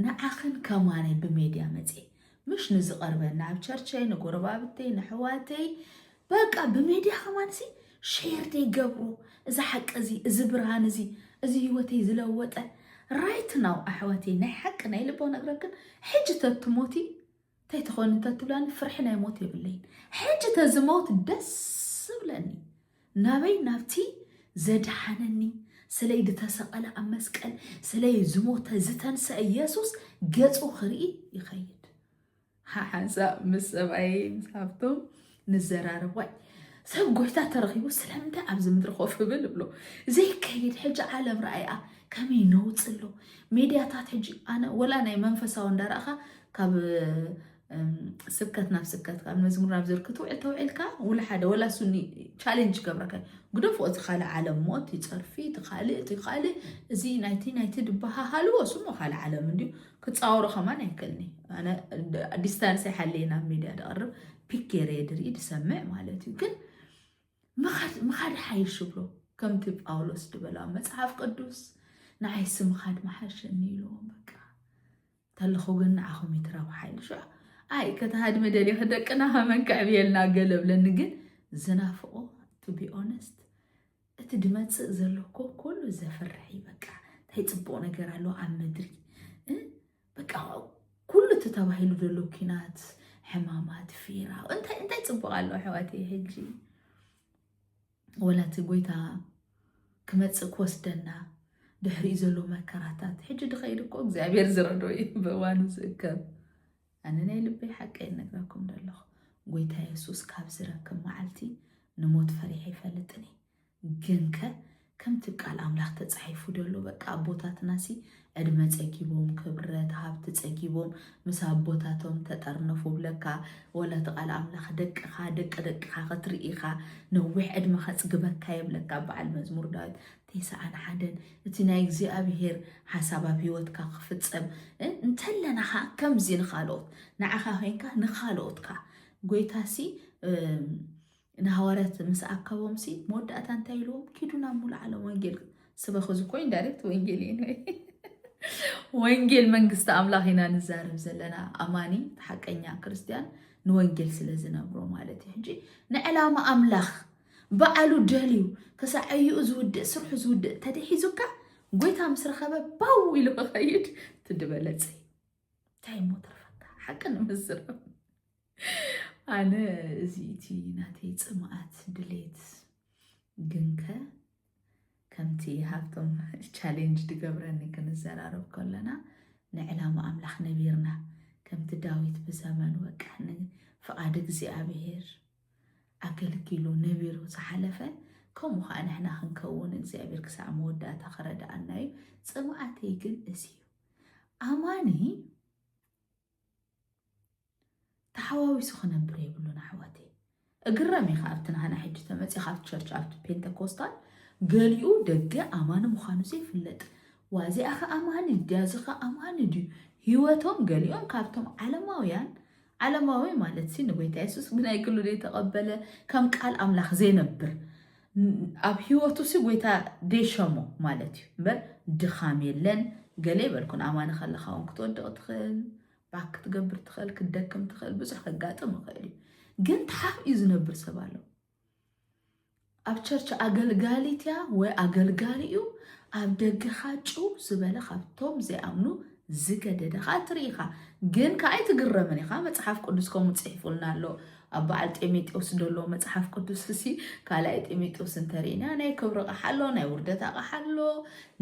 ንዓኽን ከማነይ ብሜድያ መጽየ ምሽ ንዝቐርበና ኣብ ቸርቸይ ንጎረባብተይ ንሕዋተይ በቃ ብሜድያ ከማንሲ ሼር ዘይገብሩ እዚ ሓቂ እዚ እዚ ብርሃን እዚ እዚ ህይወተይ ዝለወጠ ራይት ናው ኣሕዋተይ ናይ ሓቂ ናይ ልቦ ነግረክን ሕጂ ተትሞቲ እንታይ ትኾን እንተትብላኒ ፍርሒ ናይ ሞት የብለይን ሕጂ ተዝመውት ደስ ዝብለኒ ናበይ ናብቲ ዘድሓነኒ ስለይ ዝተሰቐለ ኣብ መስቀል ስለይ ዝሞተ ዝተንስአ ኢየሱስ ገጹ ክርኢ ይኸይድ ሓንሳብ ምስ ሰብኣየይ ምስ ሃብቶም ንዘራረብ ዋይ ሰብ ጎይታ ተረኺቡ ስለምንታይ ኣብዚ ምድሪ ኮፍ ብል እብሎ ዘይከይድ ሕጂ ዓለም ረኣይኣ ከመይ ነውፅ ኣሎ ሜድያታት ሕጂ ኣነ ወላ ናይ መንፈሳዊ እንዳረእኻ ካብ ስብከት ናብ ስብከት ካብ መዝሙር ናብ ዝር ክትውዕል ተውዒልካ ውላ ሓደ ወላ ሱኒ ቻሌንጅ ገብረካ ግደፎ እቲ ካልእ ዓለም እሞ እቲ ፀርፊ እቲ ካልእ እቲ ካልእ እዚ ናይቲ ናይቲ ድበሃሃልዎ ስሞ ካልእ ዓለም እንድዩ ክፃወሮ ከማን ኣይክእልኒ ኣነ ዲስታንስ ይሓለየ ናብ ሚድያ ደቕርብ ፒክ ገይረ ድርኢ ድሰምዕ ማለት እዩ ግን ምኻድ ሓይሽ ብሎ ከምቲ ጳውሎስ ድበላ መፅሓፍ ቅዱስ ንዓይሲ ምኻድ መሓሸኒ ኢልዎም በቃ እንተለኹ ግን ንዓኹም ይትረብ ሓይልሽ ኣይ ከተሃድሚ ደልዮ ደቅና ከመን ክዕብየልና ገለብለኒ ግን ዝናፍቆ ቱ ቢ ኦነስት እቲ ድመጽእ ዘሎ እኮ ኩሉ ዘፍርሕ እዩ በቃ እንታይ ጽቡቕ ነገር ኣሎ ኣብ ምድሪ እ? በቃ ኩሉ እቲ ተባሂሉ ዘሎ ኩናት ሕማማት ፊራ እንታይ እንታይ ጽቡቕ ኣሎ ኣሕዋት ሕጂ ወላ እቲ ጎይታ ክመጽእ ክወስደና ድሕሪኡ ዘሎ መከራታት ሕጂ ድኸይድ እኮ እግዚኣብሔር ዝረዶ እዩ ብእዋኑ ዝእከብ ኣነ ናይ ልበይ ሓቀይ እነግራኩም ደለኹ ጎይታ የሱስ ካብ ዝረክብ መዓልቲ ንሞት ፈሪሐ ኣይፈልጥን እየ ግንከ ከምቲ ቃል ኣምላኽ ተጻሒፉ ደሎ በቃ ኣቦታትናሲ ዕድመ ጸጊቦም ክብረት ሃብቲ ጸጊቦም ምስ ኣቦታቶም ተጠርነፉ ብለካ ወላ እቲ ቃል ኣምላኽ ደቅኻ ደቂ ደቅኻ ክትርኢኻ ነዊሕ ዕድመ ከጽግበካ የብለካ በዓል መዝሙር ዳዊት ቴስዓን ሓደን እቲ ናይ እግዚኣብሄር ሓሳብ ኣብ ህይወትካ ክፍጸም እንተለና ከኣ ከምዚ ንኻልኦት ንዓኻ ኮይንካ ንኻልኦት ከኣ ጎይታሲ ንሃዋርያት ምስ ኣከቦምሲ መወዳእታ እንታይ ኢልዎም ኪዱ ናብ ሙሉእ ዓለም ወንጌል ስበኽ እዚ ኮይን ዳይሬክት ወንጌል እዩ ወንጌል መንግስቲ ኣምላኽ ኢና ንዛረብ ዘለና ኣማኒ ሓቀኛ ክርስትያን ንወንጌል ስለ ዝነብሮ ማለት እዩ ሕጂ ንዕላማ ኣምላኽ በዓሉ ደልዩ ክሳዕ ዕዩኡ ዝውድእ ስርሑ ዝውድእ ተተሒዙካ ጎይታ ምስ ረኸበ ባው ኢሉ ክኸይድ ትድበለፅ እንታይ እሞ ተርፈካ ሓቂ ንምዝረብ ኣነ እዚ እቲ ናተይ ፅምኣት ድሌት ግንከ ከምቲ ሃብቶም ቻሌንጅ ድገብረኒ ክንዘራረብ ከለና ንዕላማ ኣምላኽ ነቢርና ከምቲ ዳዊት ብዘመኑ በቃ ፍቓድ እግዚኣብሄር ኣገልጊሉ ነቢሩ ዝሓለፈ ከምኡ ከኣ ንሕና ክንከውን እግዚኣብሔር ክሳዕ መወዳእታ ክረድኣና እዩ ጽምኣተይ ግን እዚ እዩ ኣማኒ ተሓዋዊሱ ክነብር የብሉን ኣሕዋተይ እግረም ኢኻ ኣብቲ ንሃና ሕጂ ተመፂ ካብቲ ቸርች ኣብቲ ፔንተኮስታል ገሊኡ ደገ ኣማኒ ምዃኑ ዘይፍለጥ ዋዚኣ ከ ኣማኒ ድያ እዚ ከ ኣማኒ ድዩ ህይወቶም ገሊኦም ካብቶም ዓለማውያን ዓለማዊ ማለትሲ ንጎይታ የሱስ ብናይ ግሉ ዘይተቐበለ ከም ቃል ኣምላኽ ዘይነብር ኣብ ህይወቱሲ ጎይታ ደይሸሞ ማለት እዩ እምበር ድኻም የለን ገለ ይበልኩን ኣማኒ ከለኻ እውን ክትወድቕ ትኽእል ባክ ክትገብር ትኽእል ክትደክም ትኽእል ብዙሕ ከጋጥም ይኽእል እዩ ግን ተሓፍኡ ዝነብር ሰብ ኣሎ ኣብ ቸርች ኣገልጋሊት እያ ወይ ኣገልጋሊ እዩ ኣብ ደገ ኻዓ ጭው ዝበለ ካብቶም ዘይኣምኑ ዝገደደ ኻዓ ትርኢ ኢኻ ግን ካዓ ኣይትግረምን ኢኻ መፅሓፍ ቅዱስ ከምኡ ፅሒፉልና ኣሎ ኣብ በዓል ጢሞቴዎስ ዘሎ መፅሓፍ ቅዱስ እሲ ካልኣይ ጢሞቴዎስ እንተሪእና ናይ ክብሪ ቃሓ ኣሎ ናይ ውርደት ኣቃሓ ኣሎ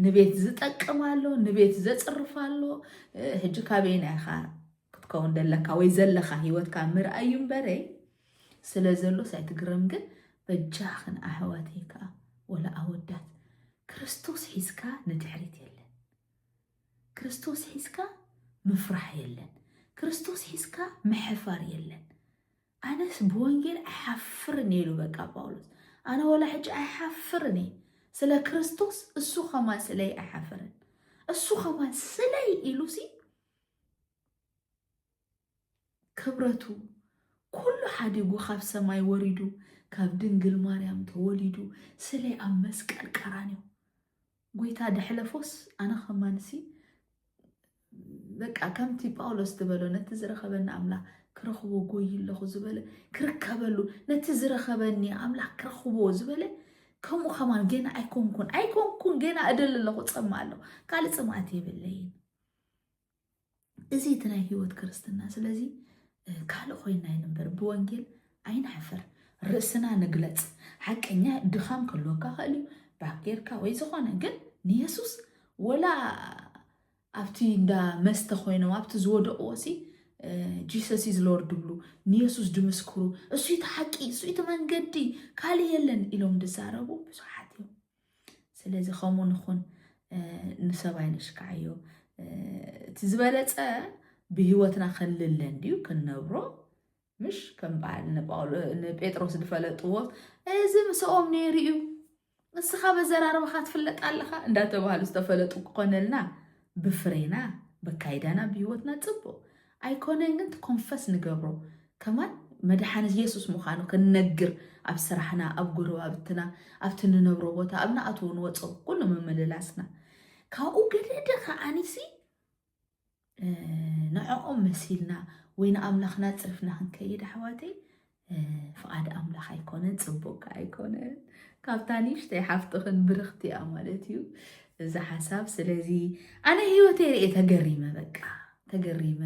ንቤት ዝጠቅም ኣሎ ንቤት ዘፅርፍ ኣሎ ሕጂ ካበይና ኢኻ ክትከውን ደለካ ወይ ዘለካ ሂወትካ ምርኣይ እዩ እምበረይ ስለ ዘሎስ ኣይትግረም ግን በጃኽን ኣሕዋተይ ከዓ ወላ ኣወዳት ክርስቶስ ሒዝካ ንድሕሪት የለን ክርስቶስ ሒዝካ ምፍራሕ የለን ክርስቶስ ሒዝካ ምሕፋር የለን ኣነስ ብወንጌል ኣይሓፍርን ኢሉ በቃ ጳውሎስ ኣነ ወላ ሕጂ ኣይሓፍርን እየ ስለ ክርስቶስ እሱ ከማን ስለይ ኣይሓፍርን እሱ ከማን ስለይ ኢሉሲ ክብረቱ ኩሉ ሓዲጉ ካብ ሰማይ ወሪዱ ካብ ድንግል ማርያም ተወሊዱ ስለ ኣብ መስቀል ቀራንዮ ጎይታ ደሕለፎስ ኣነ ከማንሲ በቃ ከምቲ ጳውሎስ ዝበሎ ነቲ ዝረኸበኒ ኣምላኽ ክረኽቦ ጎይ ኣለኹ ዝበለ ክርከበሉ ነቲ ዝረኸበኒ ኣምላኽ ክረኽቦ ዝበለ ከምኡ ከማን ገና ኣይኮንኩን ኣይኮንኩን ገና እደሊ ኣለኹ ፀማ ኣለኹ ካልእ ፅምኣት የብለይን እዚ እቲ ናይ ህይወት ክርስትና ስለዚ ካልእ ኮይና ይንበር ብወንጌል ኣይንሓፍር ርእስና ንግለጽ ሓቀኛ ድኻም ከልወካ ኸእል እዩ ባክ ጌርካ ወይ ዝኾነ ግን ንየሱስ ወላ ኣብቲ እንዳ መስተ ኮይኖም ኣብቲ ዝወደቕዎ ሲ ጂሰስ ኢዝ ሎርድ ብሉ ንየሱስ ድምስክሩ እሱ እቲ ሓቂ እሱ እቲ መንገዲ ካልእ የለን ኢሎም ድዛረቡ ብዙሓት እዮም ስለዚ ከምኡ ንኹን ንሰብ ኣይነሽካዓዮ እቲ ዝበለፀ ብህይወትና ከልለ እንድዩ ክንነብሮ ምሽ ከም በዓል ንጴጥሮስ ዝፈለጥዎ እዚ ምስኦም ነይሩ እዩ ንስኻ በዘራርባኻ ትፍለጥ ኣለኻ እንዳተባሃሉ ዝተፈለጡ ክኾነልና ብፍሬና በካይዳና ብህይወትና ፅቡቅ ኣይኮነን ግን ኮንፈስ ንገብሮ ከማን መድሓኒ የሱስ ምዃኑ ክንነግር ኣብ ስራሕና ኣብ ጎረባብትና ኣብቲ ንነብሮ ቦታ ኣብ ንኣትዎ ንወፆ ኩሉ ምምልላስና ካብኡ ገደደ ከዓኒሲ ንዕኦም መሲልና ወይ ንኣምላኽና ፅርፍና ክንከይድ ኣሕዋተይ ፍቓድ ኣምላኽ ኣይኮነን፣ ጽቡቅ ከኣ ኣይኮነን። ካብታ ንእሽተይ ሓፍትኽን ብርኽቲ እያ ማለት እዩ እዚ ሓሳብ። ስለዚ ኣነ ህይወተይ ርኤ ተገሪመ፣ በቃ ተገሪመ።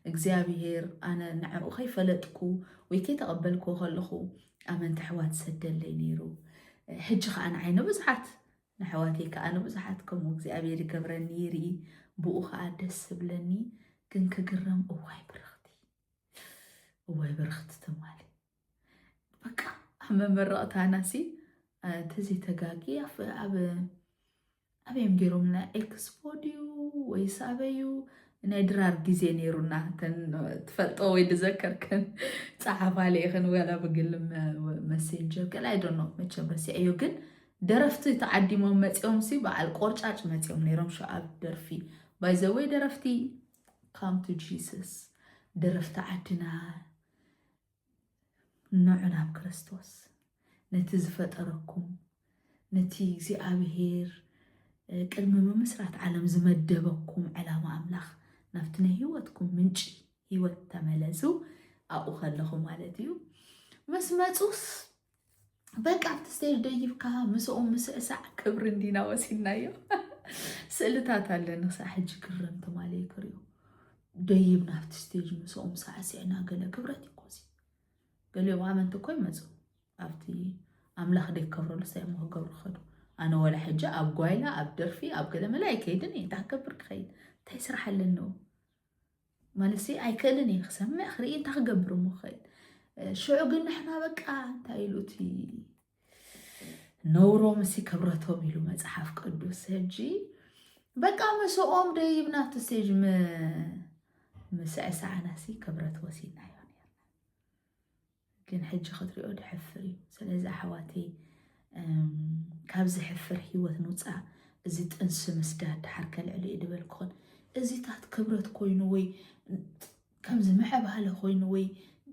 እግዚኣብሄር ኣነ ንዕኡ ከይፈለጥኩ ወይ ከይተቐበልክዎ ከለኹ ኣመንቲ ኣሕዋት ሰደለይ ነይሩ። ሕጂ ከዓ ንዓይ ንብዙሓት ንኣሕዋተይ ከዓ ንብዙሓት ከምኡ እግዚኣብሔር ይገብረኒ ይርኢ ብኡ ከዓ ደስ ዝብለኒ ግን ክግረም እዋይ ብርኽቲ እዋይ በረኽቲ ትማሊ በቃ ኣብ መመረቕታና ሲ ተዘይተጋጊ ኣብ ኣበዮም ገይሮምና ኤክስፖ ድዩ ወይስ ኣበዩ ናይ ድራር ግዜ ነይሩና ትፈልጦ ወይ ድዘከርከን ፀሓፋ ለይኽን ወላ ብግል መሴንጀር ገለ ኣይደኖ መቸም ረሲዐዮ ግን ደረፍቲ ተዓዲሞም መፂኦም ሲ በዓል ቆርጫጭ መፂኦም ነይሮም ሸኣብ ደርፊ ባይዘወይ ደረፍቲ Come to Jesus ደረፍቲ ዓድና ንዑ ናብ ክርስቶስ ነቲ ዝፈጠረኩም ነቲ እግዚኣብሄር ቅድሚ ምምስራት ዓለም ዝመደበኩም ዕላማ ኣምላኽ ናብቲ ናይ ህይወትኩም ምንጪ ህይወት ተመለሱ ኣብኡ ከለኹ ማለት እዩ ምስ መፁስ በቃ ኣብቲ ስቴጅ ደይብካ ምስኦም ምስዕሳዕ ክብሪ እንዲና ወሲድናዮ ስእልታት ኣለ ንክሳዕ ሕጂ ክረም ትማለ ክሪኦ ደይብና ኣብቲ ስቴጅ ምስኦም ሳዕስዕና ገለ ክብረት እዩ ኮዚ ገሊኦም ኣመንቲ እኮ ይመፁ ኣብቲ ኣምላኽ ደይከብረሉ ሳይ እሞ ክገብሩ ከዱ ኣነ ወላ ሕጂ ኣብ ጓይላ ኣብ ደርፊ ኣብ ገለመለ ኣይከይድን እየ እንታይ ክገብር ክኸይድ እንታይ ስራሕ ኣለኒ ማለትሲ ኣይክእልን እየ ክሰምዕ ክርኢ እንታይ ክገብር እሞ ክእል ሽዑ ግን ንሕና በቃ እንታይ ኢሉ እቲ ነውሮም እሲ ክብረቶም ኢሉ መፅሓፍ ቅዱስ ሕጂ በቃ ምስኦም ደይብና ኣብቲ ስቴጅ ምስዕሳዕናሲ ክብረት ወሲድና ግን ሕጂ ክትሪኦ ድሕፍር እዩ ስለዚ ኣሕዋተይ ካብ ዝሕፍር ሂወት ንውፃእ እዚ ጥንሲ ምስዳድ ድሓር ከልዕል እዩ ድበልኩን እዚታት ክብረት ኮይኑ ወይ ከምዚ ምዕባለ ኮይኑ ወይ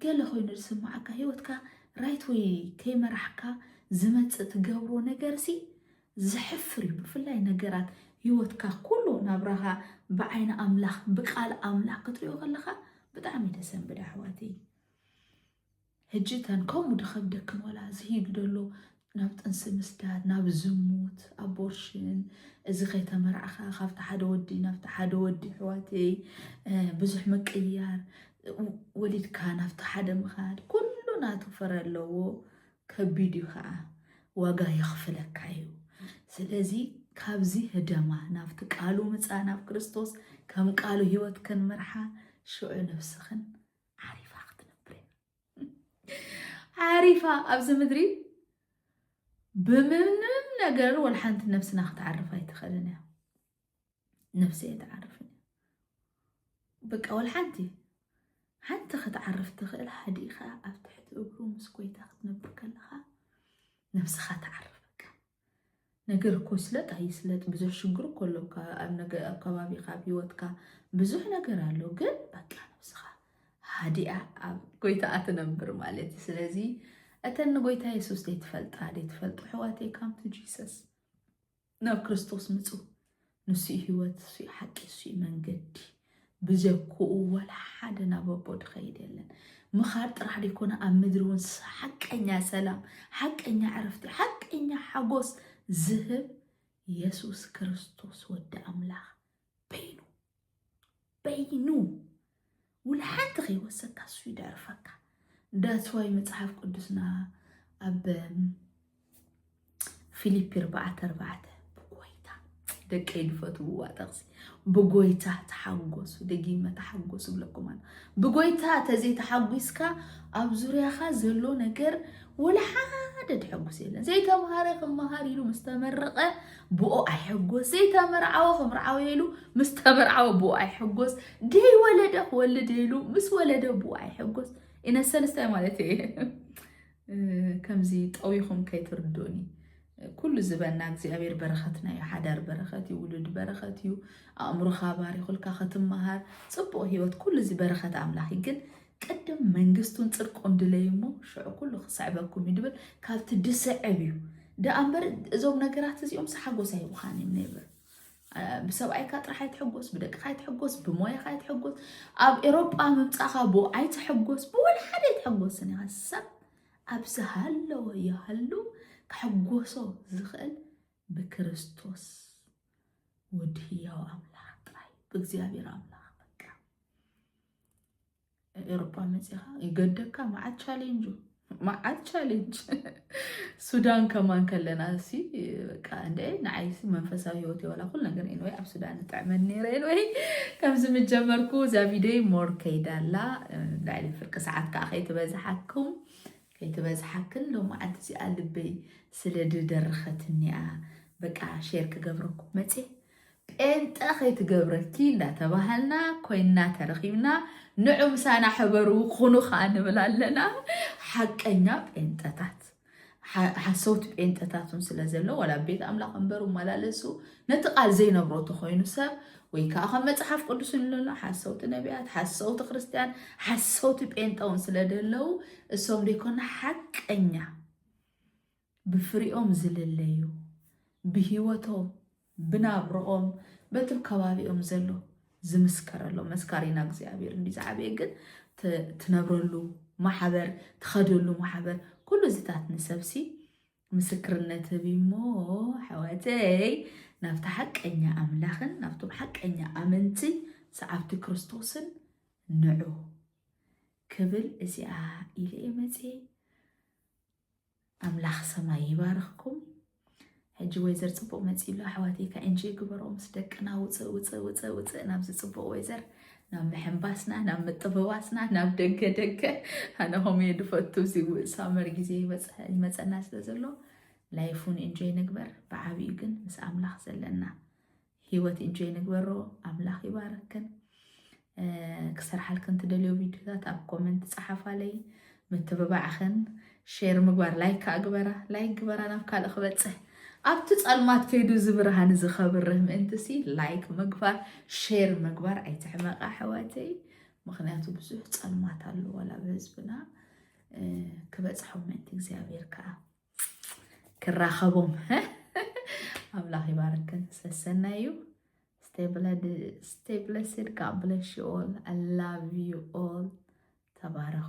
ገለ ኮይኑ ዝስማዓካ ሂወትካ ራይት ወይ ከይመራሕካ ዝመፅእ ትገብሮ ነገር ሲ ዝሕፍር እዩ ብፍላይ ነገራት ሂወትካ ኩሉ ናብራኻ ብዓይኒ ኣምላኽ ብቃል ኣምላኽ ክትሪኦ ከለኻ ብጣዕሚ ደሰንብድ ኣሕዋት እዩ ሕጂ እተን ከምኡ ድኸብደክን ዋላ ዝሂዱ ደሎ ናብ ጥንሲ ምስዳድ ናብ ዝሙት ኣቦርሽን እዚ ከይተመርዕኻ ካብቲ ሓደ ወዲ ናብቲ ሓደ ወዲ ሕዋተይ ብዙሕ ምቅያር ወሊድካ ናብቲ ሓደ ምኻድ ኩሉ ናቱ ፍረ ኣለዎ ከቢድ እዩ ከዓ ዋጋ የኽፍለካ እዩ ስለዚ ካብዚ ህደማ ናብቲ ቃሉ ምፃ ናብ ክርስቶስ ከም ቃሉ ህይወት ክንምርሓ ሽዑ ነብስኽን ዓሪፋ ክትነብር ዓሪፋ ኣብዚ ምድሪ ብምንም ነገር ወላ ሓንቲ ነብስና ክትዓርፍ ኣይትኽእልን እያ ነብሲ ኣይትዓርፍ በቃ ወላ ሓንቲ ሓንቲ ክትዓርፍ ትኽእል ሓዲእኻ ኣብ ትሕቲ እግሩ ምስ ጎይታ ክትነብር ከለኻ ነብስኻ ትዓርፍ በቃ ነገር እኮ ይስለጥ ኣይስለጥ ብዙሕ ሽግር እኮ ኣሎ ኣብ ከባቢካ ኣብ ሂወትካ ብዙሕ ነገር ኣሎ ግን በቃ ነብስካ ሃዲኣ ኣብ ጎይታኣ ትነብር ማለት እዩ ስለዚ እተን ንጎይታ የሱስ ዘይትፈልጣ ዘይትፈልጡ ሕዋተይ ካምቱ ጂሰስ ናብ ክርስቶስ ምፁ ንሱ'ዩ ህይወት፣ እሱ'ዩ ሓቂ፣ እሱ'ዩ መንገዲ። ብዘኩኡ ዋላ ሓደ ናብ ኣቦ ድኸይድ የለን። ምኻድ ጥራሕ ደይኮነ ኣብ ምድሪ እውን ሓቀኛ ሰላም፣ ሓቀኛ ዕረፍቲ፣ ሓቀኛ ሓጎስ ዝህብ የሱስ ክርስቶስ ወዲ ኣምላኽ በይኑ በይኑ ውል ሓንቲ ከይወሰካ እሱ ይደርፈካ ዳስዋይ መፅሓፍ ቅዱስና ኣብ ፊሊፒ ርባዕተ ርባዕተ ብጎይታ ደቂ ድፈትውዋ ጠቕሲ ብጎይታ ተሓጎሱ ደጊመ ተሓጎሱ ብለኩም ኣሎ ብጎይታ ተዘይተሓጒስካ ኣብ ዙርያኻ ዘሎ ነገር ወላ ሓደ ተሐጉስ የለን ዘይተምሃረ ክመሃር ኢሉ ምስተመረቐ ብኡ ኣይሕጎስ ዘይተመርዓወ ክምርዓወ ኢሉ ምስ ተመርዓወ ብኡ ኣይሕጎስ ደይ ወለደ ክወልድ ኢሉ ምስ ወለደ ብኡ ኣይሕጎስ ኢነ ሰልስታይ ማለት እየ ከምዚ ጠዊኹም ከይትርድኡኒ ኩሉ ዝበና እግዚኣብሔር በረኸትና እዩ ሓዳር በረኸት እዩ ውሉድ በረኸት እዩ ኣእምሮኻ ባሪኹልካ ክትመሃር ፅቡቅ ህይወት ኩሉ እዚ በረኸት ኣምላኽ ግን ቅድም መንግስቱን ጽድቁን ድለዩ እሞ ሽዑ ኩሉ ክስዕበኩም እዩ ድብል ካብቲ ድስዕብ እዩ ደኣ እምበር እዞም ነገራት እዚኦም ሓጎስ ኣይብኻን እዮም ነይበር ብሰብኣይካ ጥራሕ ኣይትሕጎስ ብደቅኻ ኣይትሕጎስ ብሞያኻ ኣይትሕጎስ ኣብ ኤሮጳ ምምፃእኻ ብኡ ኣይትሕጎስ ብወላ ሓደ ኣይትሕጎስን ኢኻ ሰብ ኣብ ዝሃለወ ይሃሉ ክሕጎሶ ዝኽእል ብክርስቶስ ውድ ህያው ኣምላኽ ጥራይ ብእግዚኣብሔር ኣምላኽ ኤሮጳ መፂኻ ይገደካ መዓት ቻሌንጁ መዓት ቻሌንጅ ሱዳን ከማን ከለና እሲ በቃ እንደ ንዓይሲ መንፈሳዊ ህይወት የወላ ኩል ነገር ኢንወይ ኣብ ሱዳን ንጥዕመን ነይረ ኢንወይ ከምዚ ምጀመርኩ እዛ ቪዲዮ ሞር ከይዳላ ልዕሊ ፍርቂ ሰዓት ከዓ ከይትበዝሓኩም ከይትበዝሓክን ሎ መዓልቲ እዚኣ ልበይ ስለ ድደረኸትኒያ በቃ ሼር ክገብረኩም መፅየ ጴንጠ ከይትገብረኪ እንዳተባሃልና ኮይንና ተረኺብና ንዑ ምሳና ሕበሩ ኩኑ ከኣ ንብል ኣለና ሓቀኛ ጴንጠታት ሓሰውቲ ጴንጠታት ውን ስለ ዘሎ ዋላ ኣብ ቤት ኣምላኽ እምበሩ መላለሱ ነቲ ቃል ዘይነብሮ ተኮይኑ ሰብ ወይ ከዓ ከም መፅሓፍ ቅዱስ ንለሎ ሓሰውቲ ነቢያት ሓሰውቲ ክርስትያን ሓሰውቲ ጴንጠ ውን ስለ ደለው እሶም ደይኮና ሓቀኛ ብፍሪኦም ዝልለዩ፣ ብሂወቶም፣ ብናብርኦም፣ በቲ ኣብ ከባቢኦም ዘሎ ዝምስከረሎም መስካሪና እግዚኣብሔር እንዲ ዝዓበየ ግን ትነብረሉ ማሕበር ትኸደሉ ማሕበር ኩሉ እዚታት ንሰብሲ ምስክርነት ህብ እሞ ሓወተይ ናብቲ ሓቀኛ ኣምላኽን ናብቶም ሓቀኛ ኣመንቲ ሰዓብቲ ክርስቶስን ንዑ ክብል እዚኣ ኢለ እየ መፅኤ ኣምላኽ ሰማይ ይባርኽኩም። ሕጂ ወይዘር ጽቡቅ መጺኡ ኣሎ ኣሕዋተይ ከ እንጂ ግበሮ ምስ ደቅና ውጽእ ውጽእ ውጽእ ውጽእ ናብዚ ጽቡቅ ወይዘር ናብ ምሕንባስና ናብ ምጥብባስና ናብ ደገ ደገ ኣነ ከምኡ እየ ዝፈቱ እዚ ሳመር ግዜ ይበጽሐ- ይመጸና ስለ ዘሎ ላይፍ እውን እንጆይ ንግበር ብዓብዩ ግን ምስ ኣምላኽ ዘለና ሂወት ኢንጆይ ንግበሮ ኣምላኽ ይባርክን ክሰርሓልክን ትደልዮ ቪድዮታት ኣብ ኮመንት ፀሓፋለይ ምትብባዕኽን ሼር ምግባር ላይክ ከዓ ግበራ ላይክ ግበራ ናብ ካልእ ክበፅሕ ኣብቲ ፀልማት ከይዱ እዚ ብርሃን እዚ ከብርህ ምእንትሲ ላይክ ምግባር ሼር ምግባር ኣይትሕመቃ ኣሕዋተይ ምክንያቱ ብዙሕ ፀልማት ኣለዎ ላ ብህዝብና ክበፅሖም ምእንቲ እግዚኣብሔር ከዓ ክራኸቦም ኣምላኽ ይባርክን ሰሰናይ እዩ ስቴብለስድ ካብ ብለሽ ኦል ኣላቭ ዩ ኦል ተባረኹ